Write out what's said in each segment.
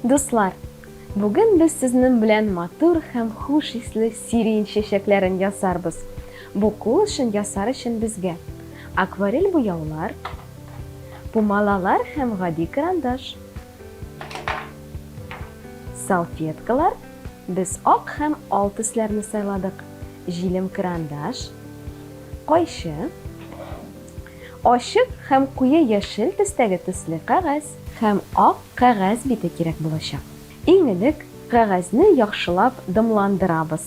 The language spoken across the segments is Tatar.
Дуслар, бүген без сезнең белән матур һәм хуш исле сирень чәчәкләрен ясарбыз. Бу кул эшен ясар өчен безгә акварель буяулар, пумалалар һәм гади карандаш, салфеткалар, Без ак һәм ал төсләрне сайладык. Җилем карандаш, кайчы, ачык һәм куе яшел төстәге төсле кәгазь һәм ак кәгазь бите кирәк булачак. Иң элек кәгазьне яхшылап дымландырабыз.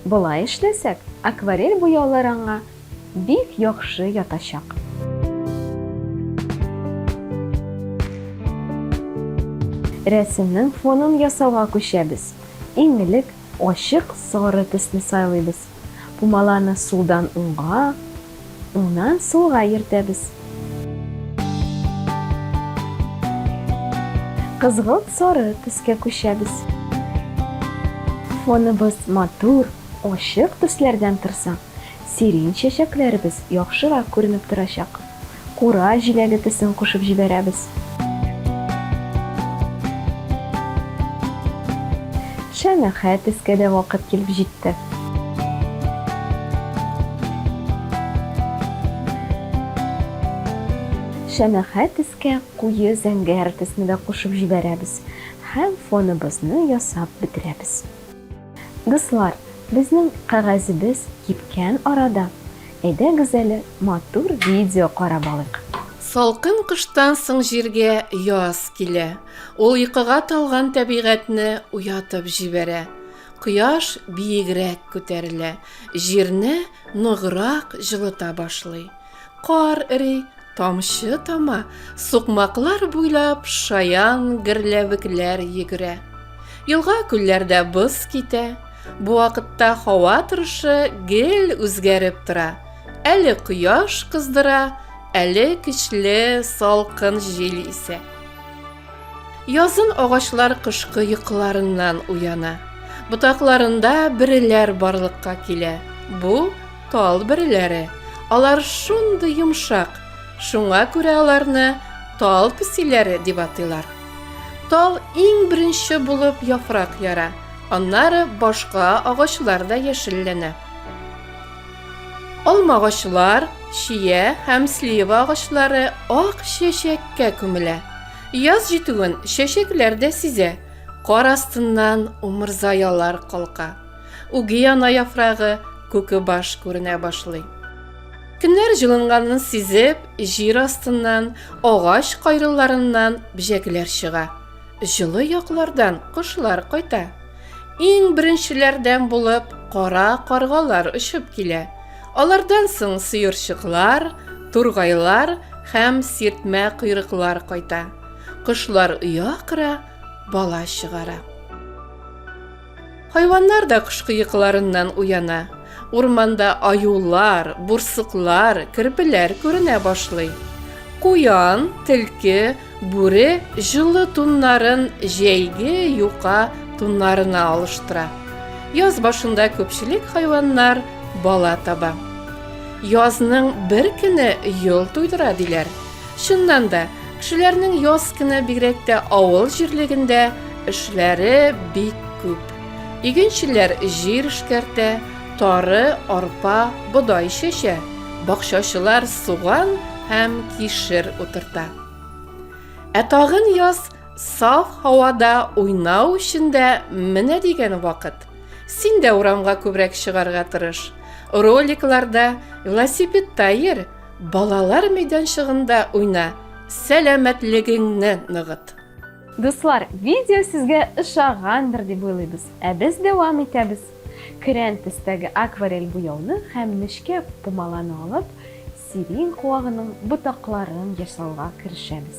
Болай эшләсәк, акварель буяулар аңа бик яхшы ятачак. Рәсемнең фонын ясауга күчәбез. Иң элек ачык сары төсне сайлыйбыз. Пумаланы сулдан уңга, Уңнан сулга йөртәбез. Кызгылт сары төскә күчәбез. Фоныбыз матур, ачык төсләрдән торса, сирень чәчәкләребез яхшырак күренеп торачак. Кура җиләге төсен кушып җибәрәбез. Шәмәхә төскә дә вакыт килеп җитте. китте. Шәмәхә төскә куе зәңгәр төсне дә кушып җибәрәбез һәм фоныбызны ясап бетерәбез. Дуслар, безнең кәгазебез кипкән арада, әйдәгез әле матур видео карап алыйк. Салкын кыштан соң җиргә яз килә. Ул йокыга талган тәбигатьне уятып җибәрә. Кояш биегрәк күтәрелә, җирне ныграк җылыта башлый. Кар эри, тамчы тама, сукмаклар буйлап шаян герләвекләр йөгерә. Елга-күлләрдә боз китә. Бу вакытта һава торышы гел үзгәреп тора. Әле кояш кыздыра, әле көчле салкын җил исә. Язын агачлар кышкы йокыларыннан уяна. Ботакларында бөреләр барлыкка килә. Бу, тал бөреләре. Алар шундый йомшак, шуңа күрә аларны тал песиләре дип атыйлар. Тал иң беренче булып яфрак яра, аннары башка агачлар да яшелләнә. Алмагачлар, чия һәм слива агачлары ак чәчәккә күмелә. Яз җитүен чәчәкләр дә сизә. Кар астыннан умырзаялар калка. Угиана яфрагы, күке баш күренә башлый. Көннәр җылынганын сизеп, җир астыннан, агач кайрыларыннан бҗәкләр чыга. Җылы яклардан кошлар кайта. Иң беренчеләрдән булып кара каргалар очып килә. Алардан соң сыерчыклар, тургайлар һәм сиртмә койрыклар кайта. Кошлар оя кыра, бала чыгара. Хайваннар да кышкы йокыларыннан уяна. Урманда аюлар, бурсыклар, керпеләр күренә башлый. Куян, тилке, бүре җылы туннарын җәйге юка туннарына алыштыра. Яз башында күпчелек хайваннар бала таба. Язның бер көне йол туйдыра диләр. Чыннан да, кешеләрнең яз кына бигрәк тә авыл җирлегендә эшләре бик күп. Игенчеләр җир эшкәртә, тары, арпа, бодай чәчә, бакчачылар суган һәм кишер утырта. Ә тагын яз саф һавада уйнау өчен дә менә дигән вакыт. Син дә урамга күбрәк чыгарга тырыш. Роликларда, велосипедта йөр, Балалар мәйданчыгында уйна, сәламәтлегеңне ныгыт! Дуслар, видео сезгә ошагандыр дип уйлыйбыз, ә без дәвам итәбез. Көрән төстәге акварель буяуны һәм нечкә пумаланы алып, сирень куагының ботакларын ясауга керешәбез.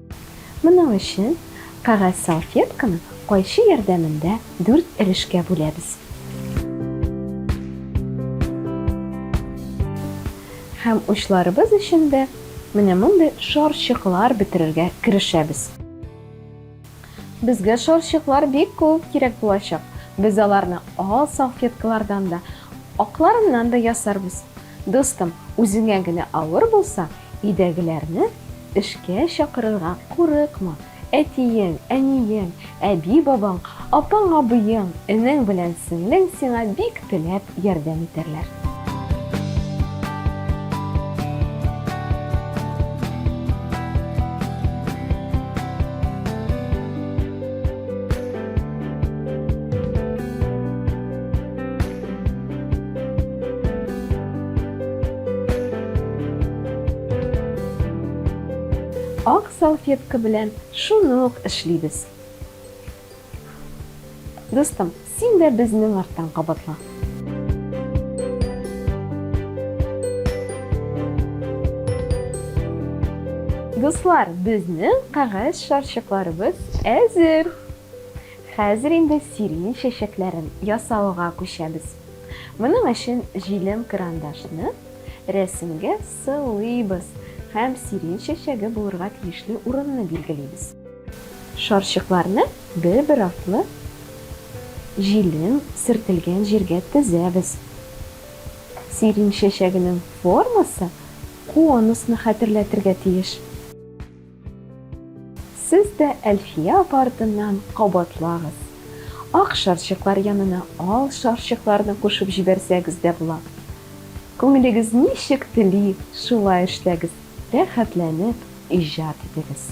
Моның өчен кәгазь салфетканы кайчы ярдәмендә дүрт өлешкә бүләбез. Һәм учларыбыз өчен дә менә мондый шарчыклар бетерергә керешәбез. Безгә шарчыклар бик күп кирәк булачак. Без аларны ал салфеткалардан да, акларыннан да ясарбыз. Дустым, үзеңә генә авыр булса, өйдәгеләрне эшкә чакырырга курыкма. Әтиең, әниең, әби-бабаң, апаң-абыең, энең белән сеңлең сиңа бик теләп ярдәм итәрләр. Ак салфетка белән шуны ук эшлибез. Дустым, син дә безнең арттан кабатла. Дуслар, безнең кәгазь шарчыкларыбыз әзер. Хәзер инде сирень чәчәкләрен ясауга күчәбез. Моның өчен җилем карандашны рәсемгә сылыйбыз һәм сирень чәчәге булырга тиешле урынны билгелибез. Шарчыкларны бер-бер артлы җилем сөртелгән җиргә тезәбез. Сирень чәчәгенең формасы конусны хәтерләтергә тиеш. Сез дә Әлфия апа артыннан кабатлагыз. Ак шарчыклар янына ал шарчыкларны кушып җибәрсәгез дә була. Күңелегез ничек тели, шулай эшләгез, рәхәтләнеп иҗат итегез.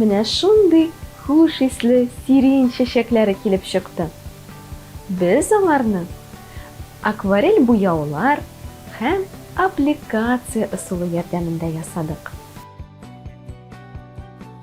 Менә шундый хуш исле сирень чәчәкләре килеп чыкты. Без аңарны акварель буяулар һәм аппликация ысулы ярдәмендә ясадык.